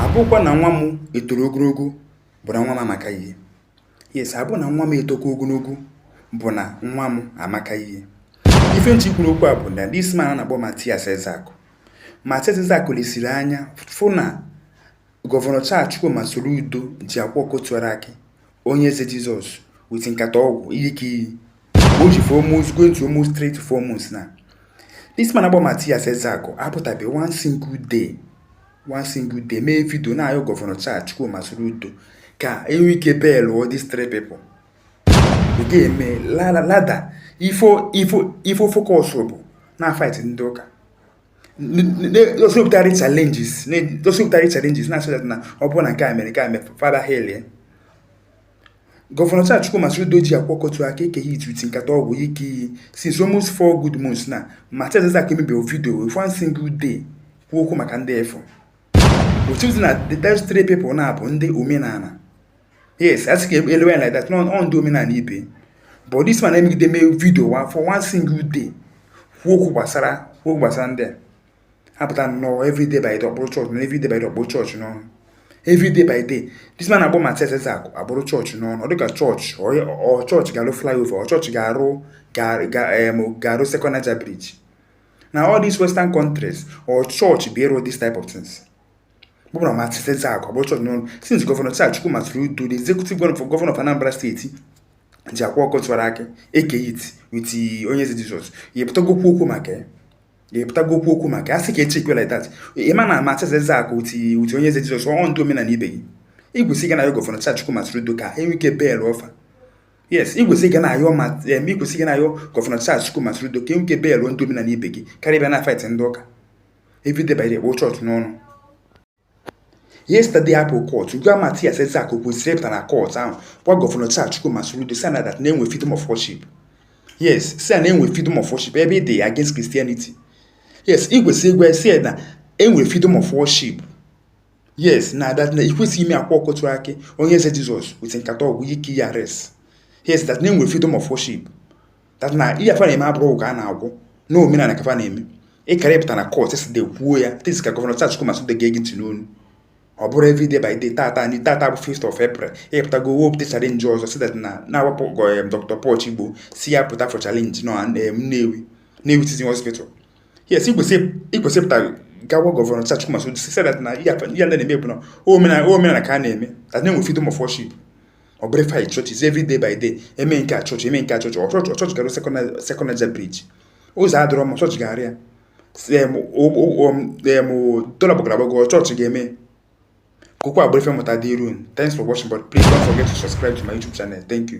abụkwa na nwa m etoro ogologo bụ na nwa m amaka ihe yes abụ na nwa m etoka ogologo bụ na nwa m amaka ihe ife m ji kwuru okwu a bụ na this man na-akpọ Matias Ezeaku Matias Ezeaku lesiri anya fụ na gọvanọ Charles Chukwuma Soludo ji Akwa Ọkụkọ Tiwara Akị Onyeze Jizọs with nkata ọgwụ Eke Hit o ji four months going to almost three to four months now this man akpọ Matias Ezeaku apụtabe one single day one single day mee vidio na-ayọ gọvanọ Charles Chukwuma Soludo ka enwe ike belụọ these three people ị ga-eme rather ife ọ ife ọ ife ọ focus bụ na fight ndị ụka dosipụtari challenges dosipụtari challenges na-asị na ọ bụrụ na nke a mere nke a mere fada helie Governor Charles Chukwuma Soludo ji Akwa Ọkụkọ Tiwara Akị Eke Hit with nkata ọgwụ Eke Hit since almost four good months na Matias Ezeaku emeberọ video with one single day kwuo okwu maka ndị efu otu dị na these three people na-abụ ndị omenala yes a sị ka elewe ya like that na ọ ndị omenala ibe but this man emegide mee video wa for one single day kwuo okwu gbasara kwuo okwu gbasara ndị a apụta nnọọ everyday by day ọ kpụrụ chọọchị n'ọnụ everyday by day ọ kpụrụ chọọchị n'ọnụ everyday by day this man akpọ Matias Ezeaku akpụrụ chọọchị n'ọnụ ọ dịka chọọchị ọ chọọchị ga-arụ flyover ọ chọọchị ga-arụ ga-arụ second Niger bridge na all these western countries ọ chọọchị bụ ịrụ this type of things bụrụ na Matias Ezeaku akpụrụ chọọchị n'ọnụ since gọvanọ Chukwuma Soludo the executive governor for governor of Anambra State ji Akwa Ọkụkọ Tiwara Akị Eke Hit with Onyeze Jizọs ya pụtago kwuo okwu maka ya ga-epụtago kwuo okwu maka a sị ka echi kwela that ị ma na Matias Ezeaku ti uti Onyeze Jizọs ọ ndị omenala ibe gị ị kwesị ịga na-ayọ gọvanọ Charles Chukwuma Soludo ka enwe ike belụọ fa yes ị kwesị ịga na-ayọ ma em ị kwesị ịga na-ayọ gọvanọ Charles Chukwuma Soludo ka enwe ike bail ndị omenala ibe gị karịa bịa na fight ndị ụka everyday by day ị kpụrụ church n'ọnụ yesterday apụ court ugbu a Matias Ezeaku o kwesị ịpụta na court ahụ gwa gọvanọ Charles Chukwuma Soludo si na that na-enwe freedom of worship yes si na enwe freedom of worship ebe ị dị against Christianity yes ị kwesịrị ịgwa si na enwe freedom of worship yes na that na ikwesịghị ime Akwa Ọkụkọ Tiwara Akị Onyeze Jizọs with nkata ọgwụ Eke Hit arrest yes that na enwe freedom of worship that na ihe fa na-eme abụrọ ụka a na-agwụ na omenala ka fa na-eme ịkara ịpụta na kọt si de kwuo ya to see ka gọvanọ Charles Chukwuma Soludo ga-ege ntị n'ọnụ ọ bụrụ everyday by day tata anyị tata bụ 5th of April ịpụtago wepụta challenge ọzọ si that na na-awapụ goyem Dr. Paul Chigbo si ya pụta for challenge na Nnewi Nnewi Teaching Hospital yes ikwesị ịpụta gwa gọvanọ Charles Chukwuma Soludo si that na ihe ndị a na-eme bụ na omenala ka a na-eme that na-enwe freedom of worship ọ bụrụ ife chọọchị every day by day eme nke a chọọchị eme nke a chọọchị ọ chọọchị ọ chọọchị ga-arụ second niger bridge ụzọ adịrọ mma ọ chọọchị ga-arụ ya dọla gbagoro agbago ọ chọọchị ga-eme kokwa agbụrụ ife mụta dị iru thanks for watching but please don't forget to subscribe to my youtube channel thank you